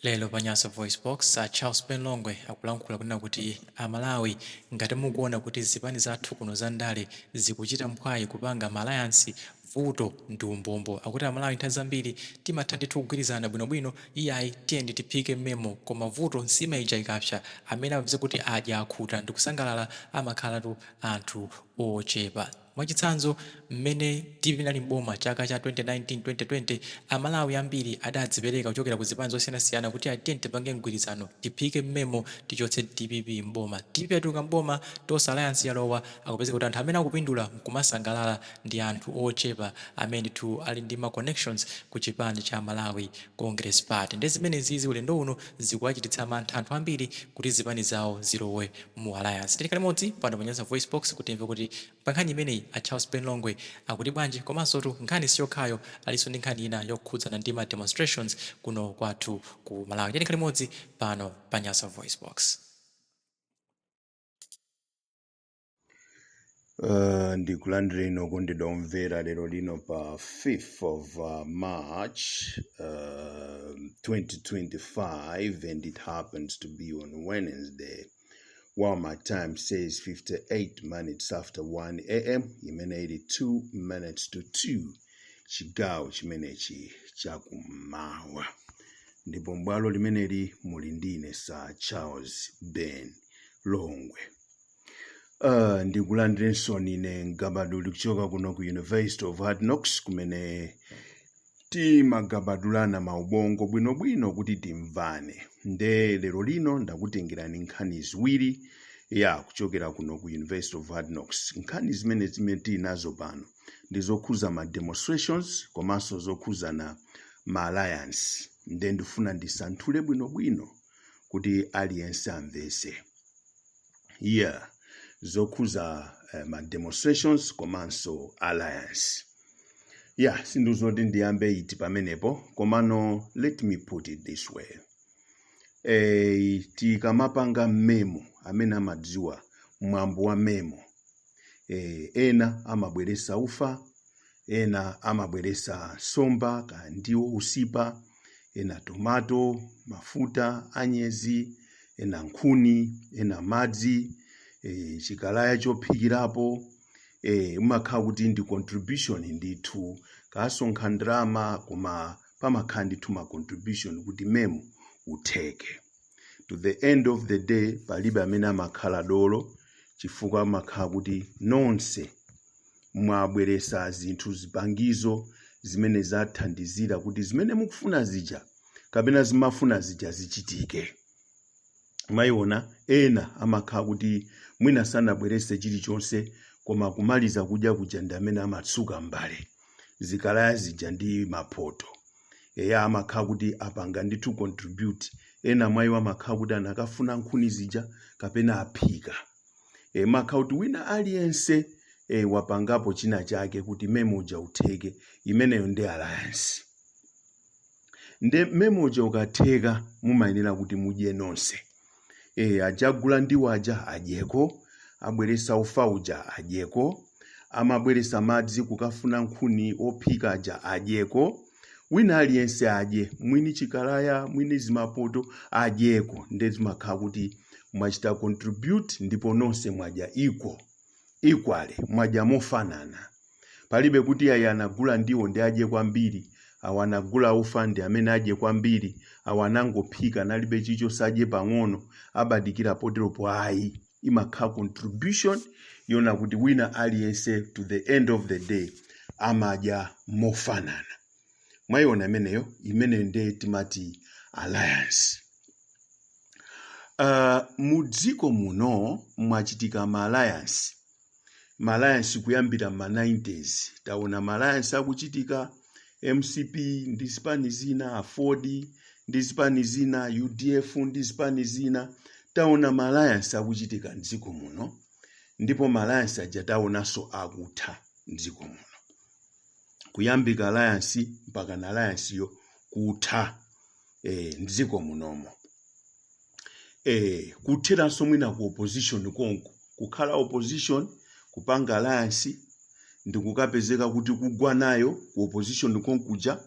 Lero pa Nyasa VoiceBox, a Charles Ben Longwe akulankhula kunena kuti a Malawi ngati mukuona kuti zipani zathu kuno za ndale zikuchita mphwayi kupanga ma alliance, vuto ndi umbombo. Akuti a Malawi nthawi zambiri timatha ndithu kugwirizana bwino bwino, iyayi tiyeni tiphike mmemo koma vuto nsima ija ikapsa, amene amadzipeza kuti adya akhuta ndikusangalala amakhalatu anthu ochepa. Mwachitsanzo, mmene dpp inali m'boma chaka cha 2019, 2020, Amalawi ambiri adadzipereka kuchokera ku zipani zosiyanasiyana kuti a tiyeni tipange mgwirizano, tiphike mmemo tichotse dpp m'boma. Dpp yatuluka m'boma, Tonse Alliance yalowa, kwapezeka kuti anthu amene akupindula nkumasangalala ndi anthu ochepa amene ndithu ali ndi ma connections ku chipani cha Malawi Congress Party. Nde zimenezizi ulendo uno zikuwachititsa mantha anthu ambiri kuti zipani zawo zilowe. mu alliance tiyeni tikhale limodzi pano panyasa voice box kuti timve kuti pankhani imeneyi a charles ben longwe akuti bwanji komansotu nkhani siyokhayo alinso ndi nkhani ina yokhudzana ndi ma demonstrations kuno kwathu ku malawi tiye tikhale limodzi pano pa nyasa voice box. Uh, ndikulandireni okondedwa omvera lero lino pa 5th of uh, march uh, 2025 and it happens to be on wednesday while my time says 58 minutes after 1 am imene ili 2 minutes to 2 chigawo chimenechi chakummawa ndipo m'bwalo limeneli muli ndine Sir charles ben longwe Uh, ndikulandireninso ine mgabaduli kuchoka kuno ku University of Hard Knocks kumene timagabadulana maubongo bwinobwino kuti timvane nde lero lino ndakutengerani nkhani ziwiri ya kuchokera kuno ku University of Hard Knocks nkhani zimene zimene tili nazo pano ndi zokhuza ma demonstrations komanso zokhuzana ma alliance nde ndifuna ndisanthule bwinobwino kuti aliyense amvese yeah zokhuza eh, ma demonstrations komanso alliance yeah sindidziwa kuti ndiyambe iti pamenepo komano let me put it this way eh, tikamapanga mmemo amene amadziwa mwambo wa mmemo eh, ena amabweresa ufa ena amabweresa somba kandiwo usipa ena tomato, mafuta, anyezi, ena nkhuni, ena madzi, e, chikalaya chophikirapo e, kumakhala kuti ndi contribution ndithu kusonkha ndalama koma pamakhala ndithu ma contribution kuti mmemo utheke at the end of the day palibe amene amakhala dolo chifukwa kumakhala kuti nonse mwabweretsa zinthu zipangizo zimene zathandizira kuti zimene mukufuna zija kapena zimafuna zija zichitike mwayiona ena amakhala kuti mwina sanabweretse chilichonse koma kumaliza kudya kuja ndi amene amatsuka mbale zikalaya zija ndi mapoto eya amakhala kuti apanga ndithu contribute ena mwayiwo amakhala kuti anakafuna nkhuni zija kapena aphika e, makhala kuti wina aliyense e, wapangapo china chake kuti memo uja utheke imeneyo ndi alliance nde memo uja ukatheka mumayenera kuti mudye nonse e, aja agula ndiwo aja adyeko abweretsa ufa uja adyeko amabweretsa madzi kukafuna nkhuni ophika aja adyeko wina aliyense adye mwini chikalaya mwini zimapoto adyeko nde zimakhala kuti mwachita contribute ndipo nonse mwadya equal equally mwadya mofanana palibe kuti ayi anagula ndiwo nde adye kwambiri awo anagula ufa ndi amene adye kwambiri awo anangophika analibe chilichonse adye pang'ono abadikira poteropo ayi imakhala contribution yonena kuti wina aliyense to the end of the day amadya mofanana mwayiona imeneyo imeneyo nde timati alliance uh, mu dziko muno mwachitika ma alliance ma alliance kuyambira m'ma 90s taona ma alliance akuchitika mcp ndi zipani zina aford ndi zipani zina udf ndi zipani zina taona ma alliance akuchitika mdziko muno ndipo ma alliance aja taonanso akutha mdziko muno kuyambika alliance mpaka na alliance yo kutha eh, mdziko munomo eh, kutheranso mwina ku opposition konko kukhala opposition kupanga alliance ndikukapezeka kuti kugwa nayo ku opposition konkuja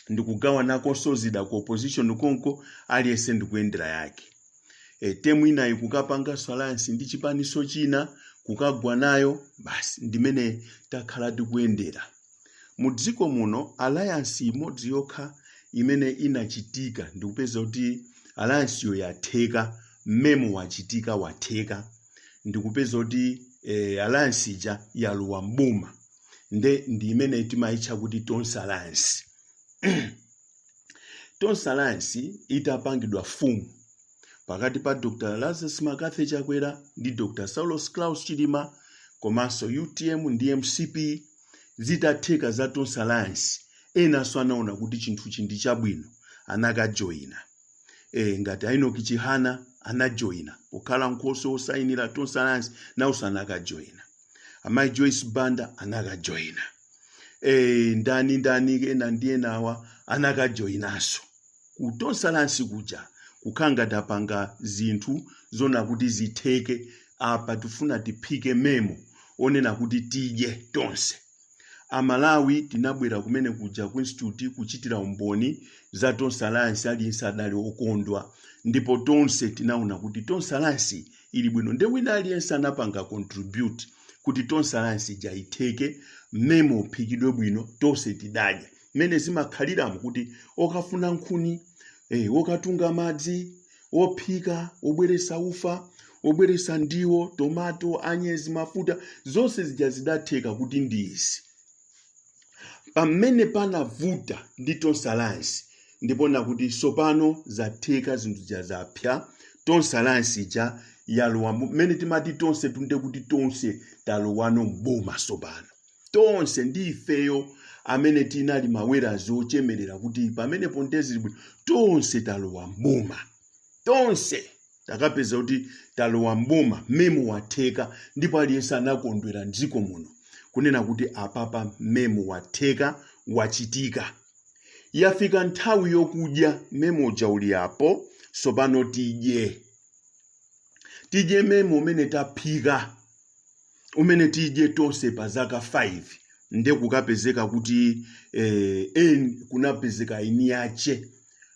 ndikugawanakonso zida ku opposition konko aliyense ndikuyendera yake e, temu inayi kukapanganso alliance ndi chipaninso china kukagwa nayo basi ndimene takhala tikuyendera Mu dziko muno alliance imodzi yokha imene inachitika ndikupeza kuti alliance yo yatheka, memo wachitika watheka ndikupeza kuti eh, alliance ija yalowa mboma nde ndi imene timaitcha kuti Tonse Alliance. Tonse Alliance itapangidwa mfumu pakati pa Dr Lazarus Mccarthy Chakwera ndi Dr Saulos Klaus Chilima komanso UTM ndi MCP zitatheka za Tonse Alliance enanso anaona kuti chinthuchi ndi chabwino anakajoyina e, ngati Enoch Chihana anajoyina pokhala nkhoswe wosayinira Tonse Alliance nawonso anakajoyina amayi Joyce Banda anakajoyina e, ndani ndani ena ndi enawa anakajoyinaso ku Tonse Alliance kuja kukhala ngati tapanga zinthu zona kuti zitheke apa tifuna tiphike memo onena kuti tidye tonse amalawi tinabwera kumene kuja ku institute kuchitira umboni za Tonse Alliance aliyense adali okondwa ndipo tonse tinaona kuti Tonse Alliance ili bwino nde wina aliyense anapanga contribute kuti Tonse Alliance ija itheke memo uphikidwe bwino tonse tidadya mmene zimakhaliramo kuti okafuna nkhuni eh, okatunga madzi ophika obweresa ufa obweresa ndiwo tomato anyezi mafuta zonse zija zidatheka kuti ndi izi pamene panavuta ndi Tonse Alliance ndi ponena kuti tsopano zatheka zinthu zija zapya Tonse Alliance ija yalowa mu- mmene timati tonse tunde kuti tonse talowano mboma tsopano tonse ndi ifeyo amene tinali mawerazi ochemerera kuti pamenepo nde zili bwino tonse talowa mboma tonse takapeza kuti talowa mboma memo watheka ndipo aliyense anakondwera mdziko muno kunena kuti apapa memo watheka wachitika yafika nthawi yokudya memo uja uli apo sopano tidye tidye memo umene taphika umene tidye tonse pa zaka 5 nde kukapezeka kuti eh, en kunapezeka eni ache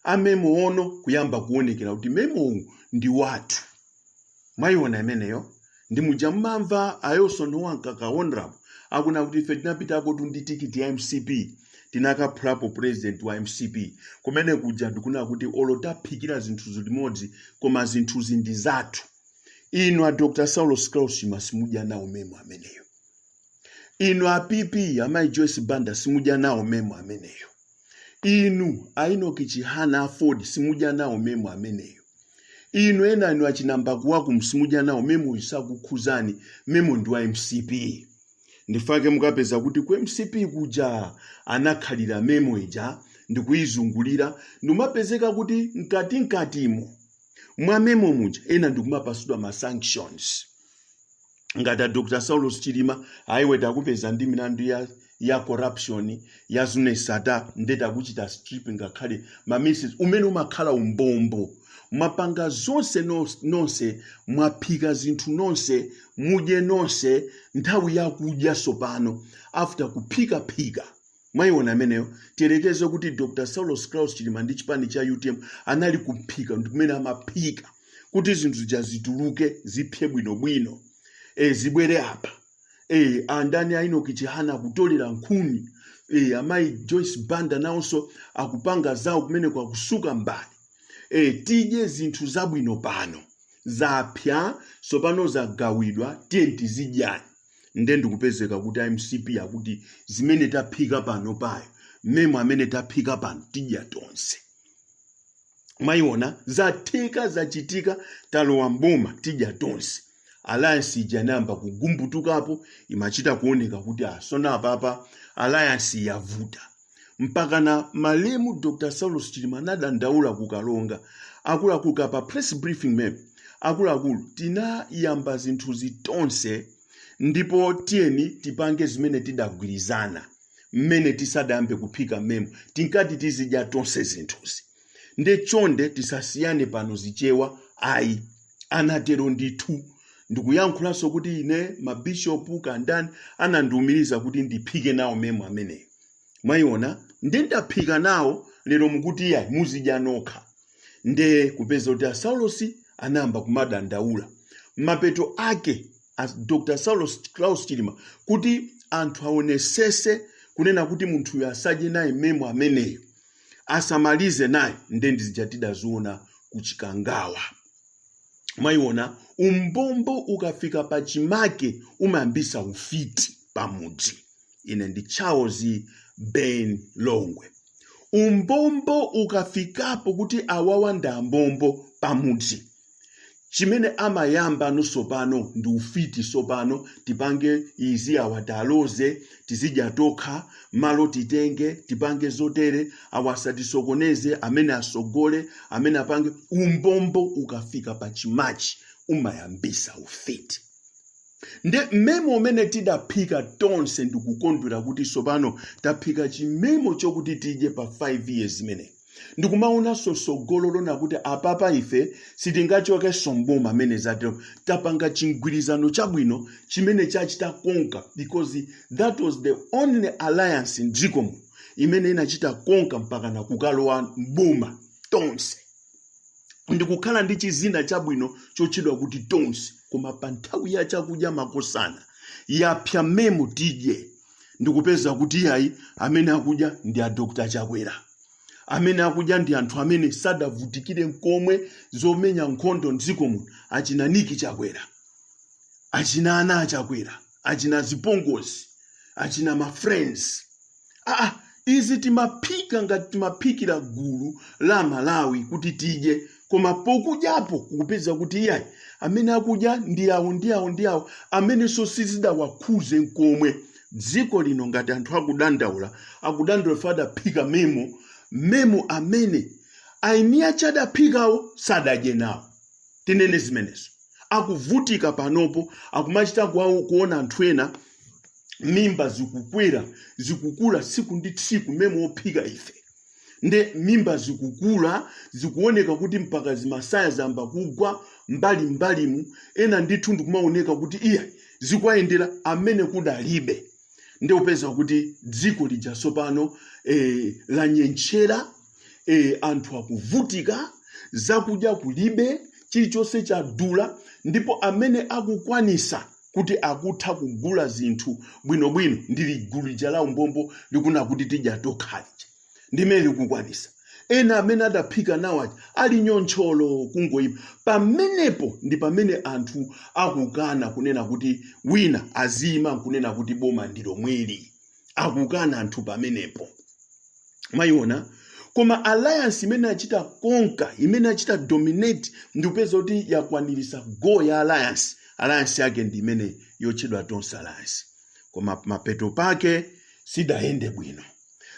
a memo ono kuyamba kuonekera kuti memo uwu ndi wathu mwayiona imeneyo ndi muja mmamva ayo sono ankaka honorable akuna kuti ife tinapitakotu ndi tikiti ya MCP tinakaphulapo president wa MCP kumene kuja ndikuna kuti olo taphikira zinthuzi limodzi koma zinthuzi ndi zathu inu a Dr Saulos Klaus Chilima simudya nawo memo ameneyo inu a PP amayi Joyce Banda simudya nawo memo ameneyo inu a Enoch Chihana a AFORD simudya nawo memo ameneyo inu ena inu achina Mbakuwaku simudya nawo memo isakukhuzani memo ndi wa MCP nchifukwa chake mukapeza kuti ku MCP kuja anakhalira memo ija ndikuyizungulira ndikumapezeka kuti mkati mkatimo mwa memo muja ena ndikumapasidwa ma sanctions ngati a dr saulos chilima ayiwe takupeza ndi milandu ya ya corruption ya Zuneth Sattar nde takuchita strip ngakhale mmene umene umakhala umbombo mwapanga zonse nos- nonse mwaphika zinthu nonse mudye nonse nthawi yakudya tsopano after kuphika phika Mwaiona imeneyo? Tiyerekeze kuti Dr Saulos Klaus Chilima ndi chipani cha utm anali kuphika ndi kumene amaphika kuti zinthu zija zituluke zipsye bwinobwino e, zibwere apa e, andani a Enoch Chihana akutolera nkhuni e, amayi Joyce Banda nawonso akupanga zawo kumeneko akutsuka mbale e, tidye zinthu zabwino pano zapsya tsopano zagawidwa tiyeni tizidyani nde ndikupezeka kuti a mcp akuti zimene taphika pano payo memo amene taphika pano tidya tonse mwayiona zatheka zachitika talowa mboma tidya tonse alliance ija inayamba kugumbutukapo imachita kuoneka kuti asona apapa alliance yavuta mpakana malemu dr saulos chilima anadandaula ku Karonga akuluakulu ka pa press briefing map akuluakulu tinayamba zinthuzi tonse ndipo tiyeni tipange zimene tidagwirizana mmene tisadayambe kuphika memo tinkati tizidya tonse zinthuzi nde chonde tisasiyane pano zichewa ayi anatero ndithu ndikuyankhulanso kuti ine mabishopu kandani anandiumiriza kuti ndiphike nawo memo ameneyo mwayiona nde ndaphika nawo lero mukuti iyayi muzidya nokha nde kupeza kuti a saulos anayamba kumadandaula mapeto ake a dr saulos klaus chilima kuti anthu aonesese kunena kuti munthuyo asadye naye memo ameneyo asamalize naye nde ndizija tidaziona ku Chikangawa mwayiona umbombo ukafika pachimake umayambisa ufiti pamudzi ine ndi charles ben longwe umbombo ukafikapo kuti awawa ndi ambombo pamudzi chimene amayamba nawo sopano ndi ufiti sopano tipange izi awa tawaloze tizidya tokha malo titenge tipange zotere awasatisokoneze amene asogole amene apange umbombo ukafika pa chimachi umayambisa ufiti nde memo umene tidaphika tonse ndikukondwera kuti tsopano taphika chimemo chokuti tidye pa 5 years imeneyi ndikumaonanso tsogolo lona kuti apapa ife sitingachokenso mboma mmene zateremu tapanga chimgwirizano chabwino chimene chachita konka because that was the only alliance mdziko muno imene inachita konka mpakana kukalowa mboma tonse ndikukhala ndi chizina chabwino chotchedwa kuti tonse koma pa nthawi ya chakudya makosana yapsa memu tidye ndikupeza kuti iyayi amene akudya ndi a dr chakwera amene akudya ndi anthu amene sadavutikire nkomwe zomenya nkhondo mdziko muno achina niki chakwera achina ana achakwera achina zipongozi achina ma friends aa izi timaphika ngati timaphikira gulu la malawi kuti tidye koma pokudyapo kupeza kuti iyayi amene akudya ndi awo ndi awo ndi awo amenenso sizidawakhuze nkomwe dziko lino ngati anthu akudandaula akudandaula fa adaphika memo memo amene aini ache adaphikawo sadadye nawo tinene zimenezo akuvutika panopo akumachita kuwa- kuona anthu ena mimba zikukwera zikukula tsiku ndi tsiku memo ophika ife nde mimba zikukula zikuoneka kuti mpaka zimasaya zamba kugwa mbali mbalimu ena ndithu ndikumaoneka kuti iyayi zikuwayendera amene kudalibe nde upeza kuti dziko lija tsopano eh, lanyentchera e, anthu akuvutika zakudya kulibe chilichonse chadula ndipo amene akukwanisa kuti akutha kugula zinthu bwinobwino ndili gulu lija la umbombo likunena kuti tidya tokha lija ndimene likukwanisa ena amene adaphika nawo aja ali nyontcholo kungoima pamenepo ndi pamene anthu akukana kunena kuti wina aziyima kunena kuti boma ndilomweli akukana anthu pamenepo mwayiona koma alliance imene achita konka imene achita dominate ndikupeza kuti yakwanirisa goal ya alliance alliance yake ndi imene yotchedwa tonse alliance koma mapeto pake sidayende bwino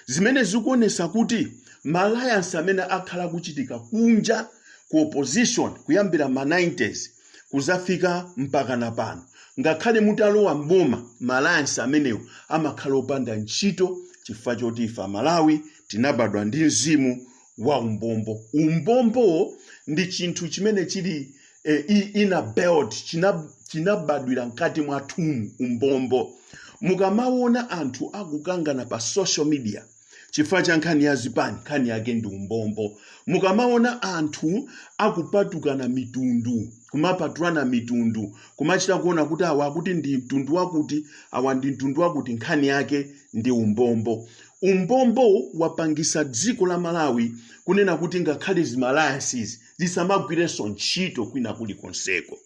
zimene zikuonesa kuti ma alliance amene akhala akuchitika kunja ku opposition kuyambira ma 90s kuzafika mpakana pano ngakhale mutalowa mboma ma alliance amenewo amakhala opanda ntchito chifukwa choti ife amalawi tinabadwa ndi mzimu wa umbombo umbombowo ndi chinthu chimene chili eh, i- inbuilt china- chinabadwira mkati mwathumu umbombo mukamaona anthu akukangana pa social media chifukwa cha nkhani ya zipani nkhani yake ndi umbombo mukamaona anthu akupatukana mitundu kumapatulana mitundu kumachita kuona kuti awa akuti ndi mtundu wakuti awa ndi mtundu wakuti nkhani yake ndi umbombo umbombo wapangisa dziko la malawi kunena kuti ngakhale zima alliances zisamagwirenso ntchito kwina kulikonseko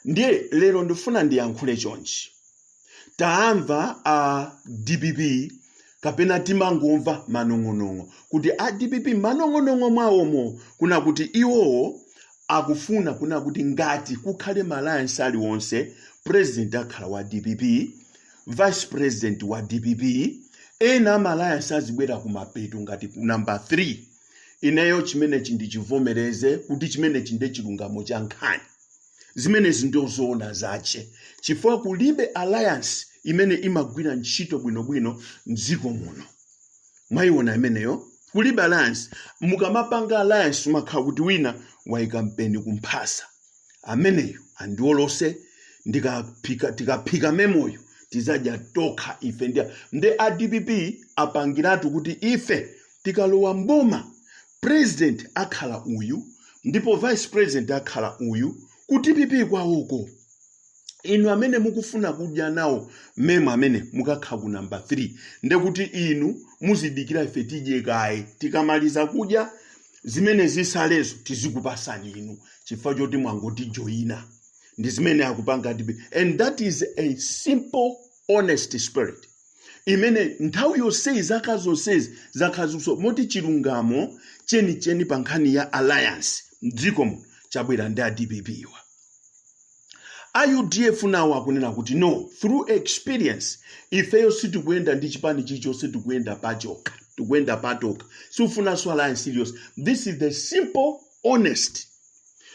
ndiye lero ndifuna ndiyankhule chonchi taamva a dpp kapena timangomva manong'onong'o kuti a dpp manong'onong'o mwawomo kuna kuti iwowo akufuna kuna kuti ngati kukhale ma alliance aliwonse president akhala wa dpp vice president wa dpp ena a ma alliance azibwera kumapeto ngati ku namba 3 ineyo chimenechi ndichivomereze kuti chimenechi nde chilungamo cha nkhani zimenezi ndiye zoona zake chifukwa kulibe alliance imene imagwira ntchito bwinobwino mdziko muno mwayiona imeneyo kulibe alliance mukamapanga alliance umakhala kuti wina waika mpeni kumphasa ameneyo andiolose tikaphika memoyo tizadya tokha ife ndi nde a dpp apangiratu kuti ife tikalowa mboma president akhala uyu ndipo vice president akhala uyu ku dpp kwawoko inu amene mukufuna kudya nawo memo amene mukakhala ku namba 3 ndekuti inu muzidikira ife tidye kaye tikamaliza kudya zimene zisalezo tizikupasani inu chifukwa choti mwangotijoyina ndi zimene akupanga dpp and that is a simple honest spirit imene nthawi yonseyi zaka zonsezi zakhalaso moti chilungamo chenicheni pa nkhani ya alliance mdziko muno chabwera ndi a dpp-wa a udf nawo akunena kuti no through experience ifeyo sitikuyenda ndi chipani chilichonse tikuyenda pachokha tikuyenda patokha sitifunanso alliance iliyonse this is the simple honest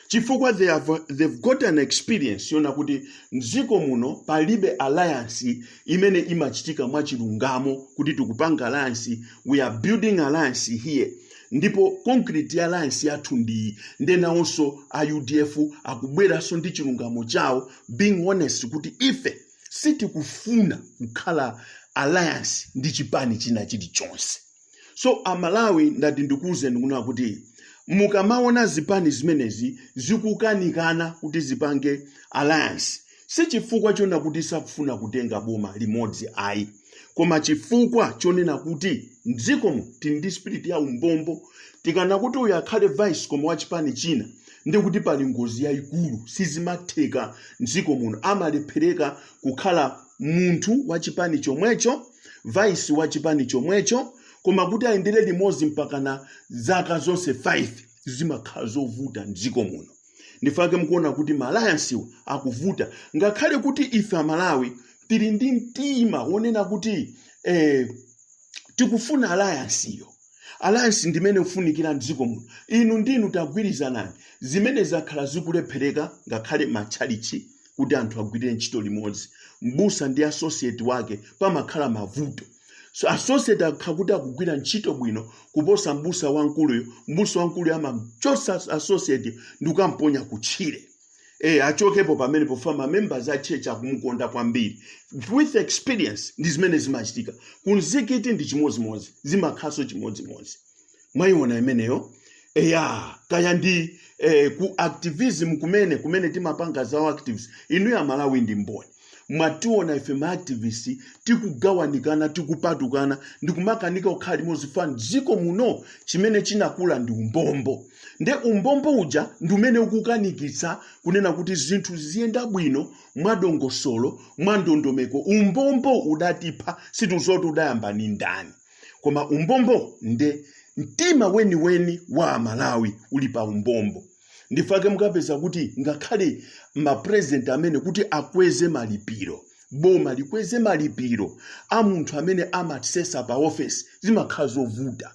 chifukwa they've got an experience yonena kuti mdziko muno palibe alliance imene imachitika mwachilungamo kuti tikupanga alliance we are building alliance here ndipo concrete ya alliance yathu ndi iyi nde nawonso a udf akubweranso ndi chilungamo chawo being honest kuti ife sitikufuna kukhala alliance ndi chipani china chilichonse so amalawi ndati ndikuwuzeni kuna kuti mukamaona zipani zimenezi zikukanikana kuti zipange alliance si chifukwa chonena kuti sakufuna kutenga boma limodzi ayi koma chifukwa chonena kuti mdzikomu tili ndi spirit ya umbombo tikanena kuti uyu akhale vice koma wa chipani china ndekuti pali ngozi yayikulu sizimatheka mdziko muno amalephereka kukhala munthu wa chipani chomwecho vice wa chipani chomwecho koma kuti ayendere limodzi mpakana zaka zonse 5 zimakhala zovuta mdziko muno ndifake mukuona kuti ma alliance-wa akuvuta ngakhale kuti ife amalawi tili ndi mtima wonena kuti tikufuna alliance-yo alliance ndimene ikufunikira mdziko muno inu ndinu tagwirizanani zimene zakhala zikulephereka ngakhale matchalichi kuti anthu agwirire ntchito limodzi mbusa ndi associate wake pamakhala mavuto so associate akakhala kuti akugwira ntchito bwino kuposa mbusa wamkuluyo mbusa wamkuluyo amamchosa associate-yo ndi kukamponya kutchire Eh, achokepo pamenepo ifa mamembers a church akumukonda kwambiri with experience ndi zimene zimachitika kumzikiti ndi chimodzimodzi zimakhalanso chimodzimodzi mwayiona imeneyo eya kaya ndi eh, ku activism kumene kumene timapanga za u-activist inu ya malawi ndi mboni mwationa ife ma activists tikugawanikana tikupatukana ndikumakanika kukhala limodzi ifa m'dziko muno chimene chinakula ndi umbombo nde umbombo uja ndi umene ukukanikitsa kunena kuti zinthu ziziyenda bwino mwadongosolo mwandondomeko umbombo udatipha sindidziwa kuti udayamba ndi ndani koma umbombo nde mtima weniweni wa amalawi uli pa umbombo ndifa chake mukapeza kuti ngakhale mapurezidenti amene kuti akweze malipiro boma likweze malipiro a munthu amene amasesa pa ofesi zimakhala zovuta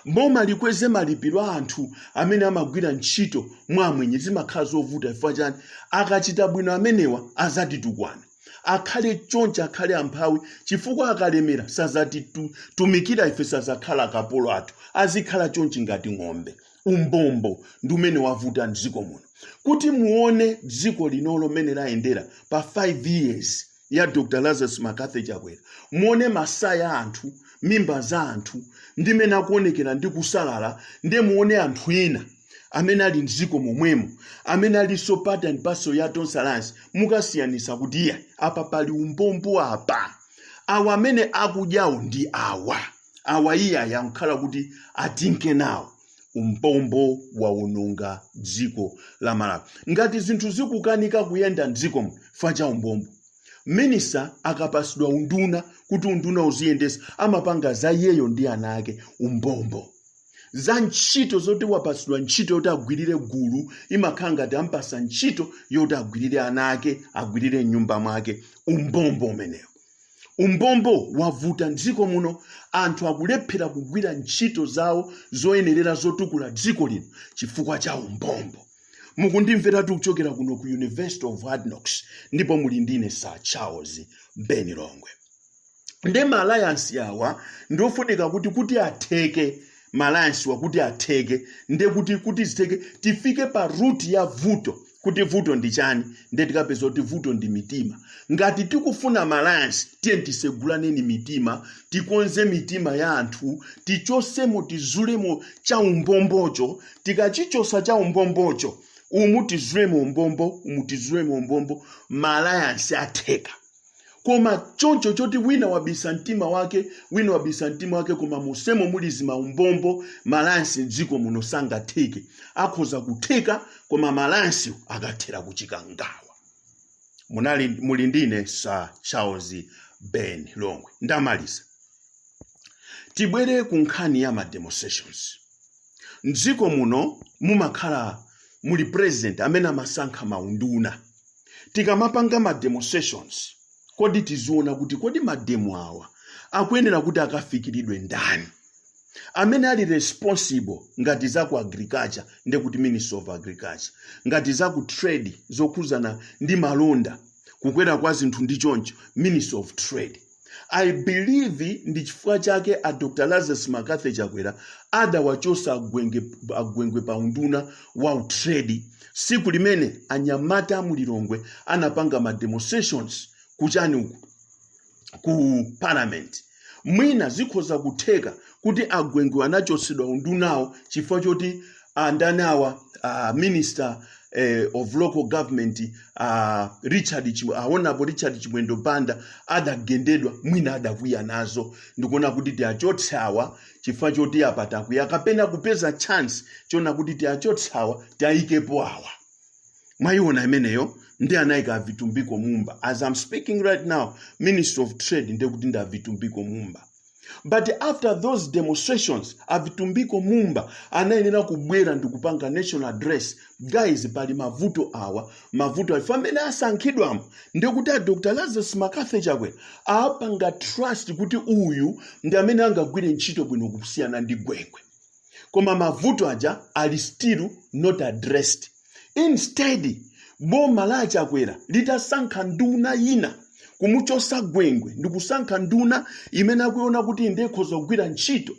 boma likweze malipiro a anthu amene amagwira ntchito mwa amwenye zimakhala zovuta chifukwa chani akachita bwino amenewa azatitukwana akhale chonchi akhale amphawi chifukwa akalemera sazatitumikira ife sazakhala akapolo athu azikhala chonchi ngati ng'ombe umbombo ndi umene wavuta mdziko muno kuti muone dziko linolo mmene layendera pa 5 years ya Dr. Lazarus McCarthy Chakwera, muone masaya a anthu, mimba za anthu, ndi mmene akuonekera ndi kusalala, ndiye muone anthu ena amene ali m'dziko momwemo amene alinso part and parcel ya Tonse Alliance, mukasiyanitsa kuti iyayi apa pali umbombo apa awa amene akudyawo ndi awa awa iyayi ankangokhala kuti atinke nawo umbombo waononga dziko la malawi ngati zinthu zikukanika kuyenda mdziko muno ifa cha umbombo minista akapasidwa unduna kuti unduna uziyendesa amapanga za iyeyo ndi ana ake umbombo za ntchito zoti wapasidwa ntchito yoti agwirire gulu imakhala ngati ampasa ntchito yoti agwirire ana ake agwirire mnyumba mwake umbombo umenewo umbombo wavuta m'dziko muno anthu akulephera kugwira ntchito zawo zoyenerera zotukula dziko lino chifukwa cha umbombo mukundimveratu kuchokera kuno ku university of hard knocks ndipo muli ndine sir charles ben longwe nde maalliance awa ndiofunika kuti kuti atheke maalliance awa kuti atheke nde kuti kuti zitheke tifike pa root ya vuto kuti vuto ndi chani nde tikapeza kuti vuto ndi mitima ngati tikufuna malayansi tiye tisegulaneni mitima tikonze mitima ya anthu tichosemo tizulemo cha umbombocho tikachichosa cha umbombocho umu tizulemo umbombo umu tizulemo umbombo malayansi atheka koma choncho choti wina wabisa mtima wake wina wabisa mtima wake koma monsemo muli zimaumbombo malayansi mdziko muno sangatheke akhoza kutheka koma malayansi akathera kuchikangawa muli ndine sir charles ben longwe ndamaliza tibwere ku nkhani ya ma demonstrations mdziko muno mumakhala muli president amene amasankha maunduna tikamapanga ma demonstrations kodi tiziona kuti kodi mademo awa akuyenera kuti akafikire ndani amene ali responsible ngati za ku agriculture nde kuti ministry of agriculture ngati za ku trade zokhuzana ndi malonda kukwera kwa zinthu ndi choncho ministry of trade i believe ndi chifukwa chake a dr lazarus mccarthy chakwera adawachosa agwengwe pa unduna wa trade siku limene anyamata mulilongwe anapanga ma demonstrations kuchani uku ku parliament mwina zikhoza kutheka kuti agwengwe anachosedwa undunawo chifukwa choti andani awa uh, minister eh, of local government uh, richard Chim- ah, honorable richard chimwendo banda adagendedwa mwina adakwiya nazo ndikuona kuti tiachotse awa chifukwa choti apa takwiya kapena kupeza chance choona kuti tiachotse awa tiayikepo awa mwayiona imeneyo nde anayika avitumbiko mumba as i'm speaking right now minister of trade ndekuti ndi avitumbiko mumba but after those demonstrations avitumbiko mumba anayenera kubwera ndikupanga national address guys pali mavuto awa mavuto awa pamene asankhidwamo ndekuti a dr lazarus mccarthy chakwera awapanga trust kuti uyu ndi amene angagwire ntchito bwino kusiyana ndi gwengwe koma mavuto aja ali still not addressed instead boma la achakwera litasankha nduna yina kumuchosa gwengwe ndikusankha nduna imene akuiona kuti ikhoza kugwira ntchito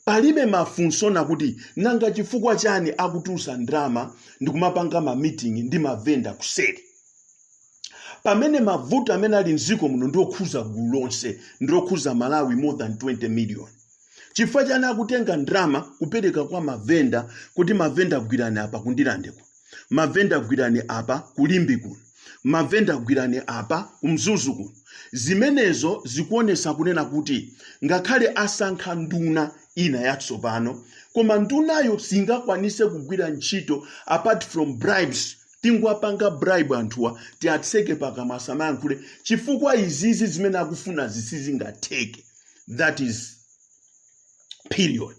palibe mafunsowa nakuti nanga chifukwa chani akutulusa ndrama ndikumapanga mamitingi ndi mavenda kuseri pamene mavuto amene ali mdziko muno ndiokhuza gulu lonse ndiokhuza malawi more than 20 million chifukwa chani akutenga ndrama kupereka kwa mavenda kuti mavenda gwirani apa kundilande kuno mavenda gwirani apa kuLimbe kuno mavenda gwirani apa kumzuzu kuno zimenezo zikuonesa kunena kuti ngakhale asankha nduna ina yatsopano koma ndunayo singakwanise kugwira ntchito apart from bribes tingowapanga bribe anthuwa tiatseke pakamwa asamayankhule chifukwa izizi zimene akufuna sizingatheke that is period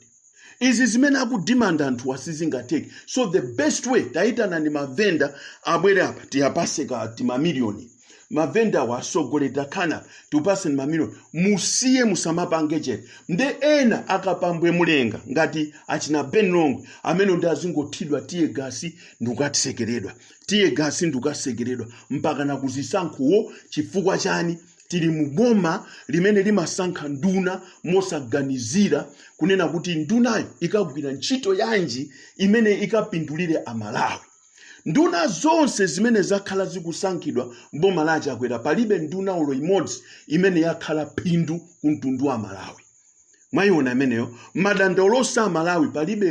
izi zimene akudimanda anthuwa sizingatheke so the best way tayitanani mavenda abwere apa tiwapaseko timamiliyoni mavenda awa asogoleri takhalani apa tikupaseni mamiliyoni musiye musamapange chete nde ena a Kapambwe Mulenga ngati achina ben longwe amene ndi azingothidwa tear gas ndikukatsekeredwa tear gas ndikukasekeredwa mpaka nakuzisankhuwo chifukwa chani tili mu boma limene limasankha nduna mosaganizira kunena kuti ndunayo ikagwira ntchito yanji imene ikapindulire amalawi nduna zonse zimene zakhala zikusankhidwa mboma la chakwera palibe nduna olo imodzi imene yakhala phindu ku mtundu wa malawi mwayiona imeneyo madandaulo a amalawi palibe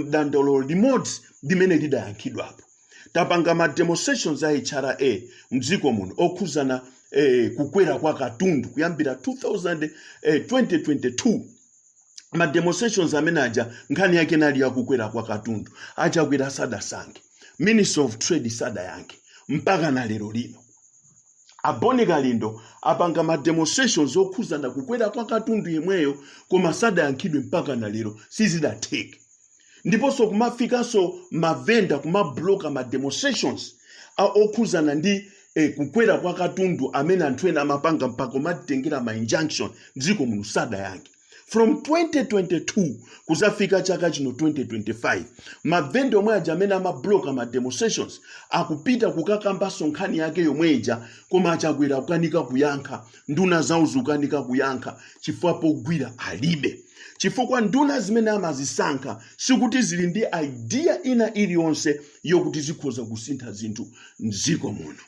dandaulo limodzi limene lidayankhidwapo tapanga ma demonstrations a hra mdziko muno okhuzana eh, kukwera kwa katundu kuyambira 2000, eh, 2022 ma demonstrations amene aja nkhani yake inali yakukwera kwa katundu achakwera sadayankhe minister of trade sadayankhe mpaka na lero lino a bon kalindo apanga ma demonstrations okhuzana kukwera kwa katundu yemweyo koma sadayankhidwe mpaka na lero sizidatheke ndiponso kumafikanso mavenda kumabloka ma demonstrations a okhuzana ndi eh, kukwera kwa katundu amene anthu ena amapanga mpaka kumatitengera ma injunction mdziko muno sadayankhe from 2022 kuzafika chaka chino 2025 mavenda omwe aja amene amabloka ma demonstrations akupita kukakambanso nkhani yake yomwe ija koma achakwera akukanika kuyankha nduna zawo zikukanika kuyankha chifukwa pogwira alibe chifukwa nduna zimene amazisankha sikuti zili ndi idea ina iliyonse yokuti zikhoza kusintha zinthu mdziko muno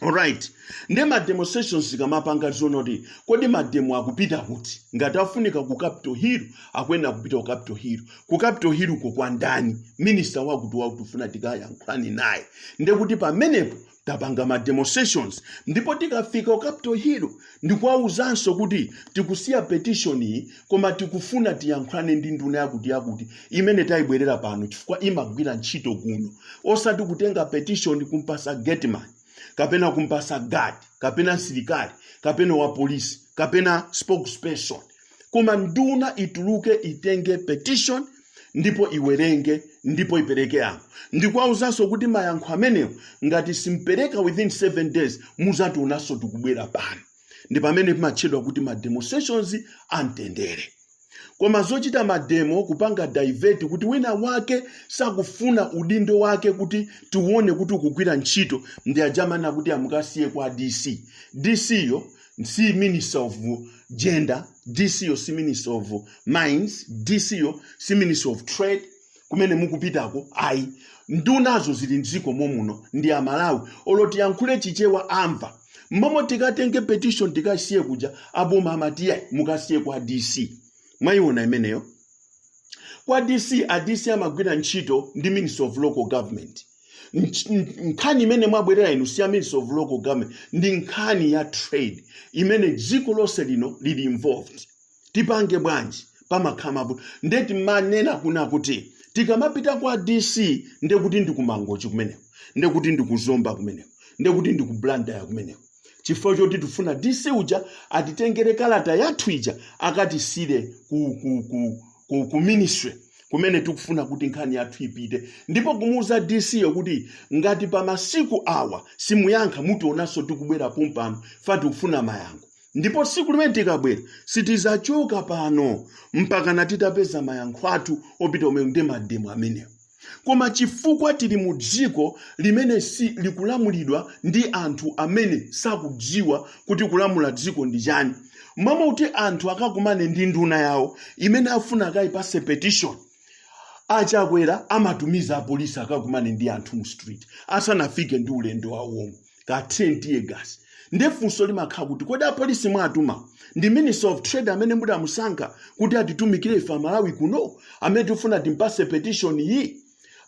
alright nde ma demonstrations tikamapanga tiziona kuti kodi mademo akupita kuti ngati afunika ku capital hill akuyenera kupita ku capital hill ku capital hill uko kwa ndani minista wakuti wakuti tufuna tikayankhulane naye nde kuti pamenepo tapanga ma demonstrations ndipo tikafika ku capital hill ndikuwauzanso kuti tikusiya petition iyi koma tikufuna tiyankhulane ndi nduna yakuti yakuti imene tayibwerera pano chifukwa imagwira ntchito kuno osati kutenga petition kumpasa gateman kapena kumpasa guard kapena msilikali kapena wapolisi kapena spokesperson koma nduna ituluke itenge petition ndipo iwerenge ndipo ipereke yankho ndikuwauzanso kuti mayankho amenewo ngati simpereka within 7 days muzationanso tukubwera pano ndi pamene pamatchedwa kuti ma demonstrations amtendere koma zochita mademo kupanga divert kuti wina wake sakufuna udindo wake kuti tione kuti akugwira ntchito ndi aja amanena kuti mukasiye kwa dc dc yo si minister of gender dc yo si minister of mines dc yo si minister of trade kumene mukupitako ayi ndunazo zili mdziko mommuno ndi amalawi olo tiyankhule chichewa amva mmomo tikatenge petition tikasiye kuja aboma amati ayi mukasiye kwa dc mwayiona imeneyo kwa dc a dc amagwira ntchito ndi minister of local government Nch- n- nkhani imene mwabwerera inu si ya ministry of local government ndi nkhani ya trade imene dziko lonse lino lili involved tipange bwanji pamakhala mavuto nde timanena kuna kuti tikamapita kwa dc ndekuti ndi ku mangochi kumeneko ndekuti ndi ku zomba kumeneko ndekuti ndi ku blantyre kumeneko chifukwa choti tifuna dc uja atitengere kalata yathu ija akatisiyire ku, ku, ku, ku, ku ministry kumene tikufuna kuti nkhani yathu ipite ndipo kumuuza dc yo kuti ngati pa masiku awa simuyankha mutionanso tikubwera pompano chifukwa tikufuna mayankho ndipo tsiku limene tikabwera sitizachoka pano mpakana titapeza mayankho athu opita amenewo ndi mademo amenewo Koma chifukwa tili mu dziko limene si likulamulidwa ndi anthu amene sakudziwa kuti kulamula dziko ndi chani, m'malo mokuti anthu akakumane ndi nduna yawo imene akufuna akayipase petition, a Chakwera amatumiza apolisi akakumane ndi anthu mu street asanafike ndi ulendo wawo womwe. kawathire tear gas nde funso limakhala kuti kodi apolisi mwatuma ndi minister of trade amene mudamusankha kuti atitumikire ife amalawi kuno amene tikufuna timpase petition iyi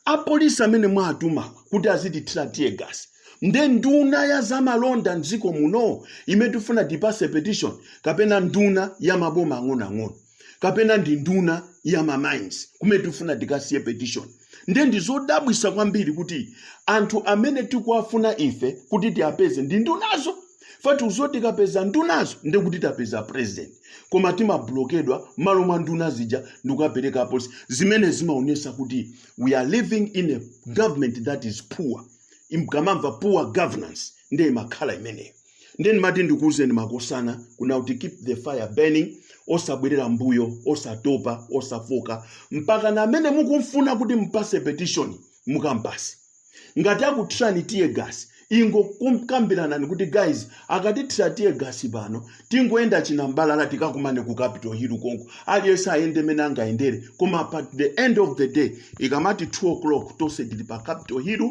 apolisi amene mwatuma kuti azitithira tear gas nde nduna ya zamalonda mdziko muno imene tikufuna tipase petition kapena nduna ya maboma ang'onoang'ono kapena ndi nduna ya mamines kumene tifuna tikasiye petition nde ndi zodabwisa kwambiri kuti anthu amene tikuwafuna ife kuti tiwapeze ndi ndunazo chifukwa tidziwa zoti tikapeza ndunazo nde kuti tapeza president koma timablokedwa mmalo mwa nduna zija ndikukapereka apolisi zimene zimaonesa kuti we are living in a government that is poor mukamamva poor governance nde imakhala imeneyo ndiye ndimati ndikuwuzeni makosana kuna kuti keep the fire burning osabwerera mbuyo osatopa osafooka mpakana amene mukumfuna kuti mpase petition mukampase ngati akuthirani tear gas ingokambiranani kuti guys akatithira tear gas pano tingoyenda chinambalala tikakumane ku capital hill konko aliyense ayende mene angayendere koma at the end of the day ikamati 2 o'clock tonse tili pa capital hill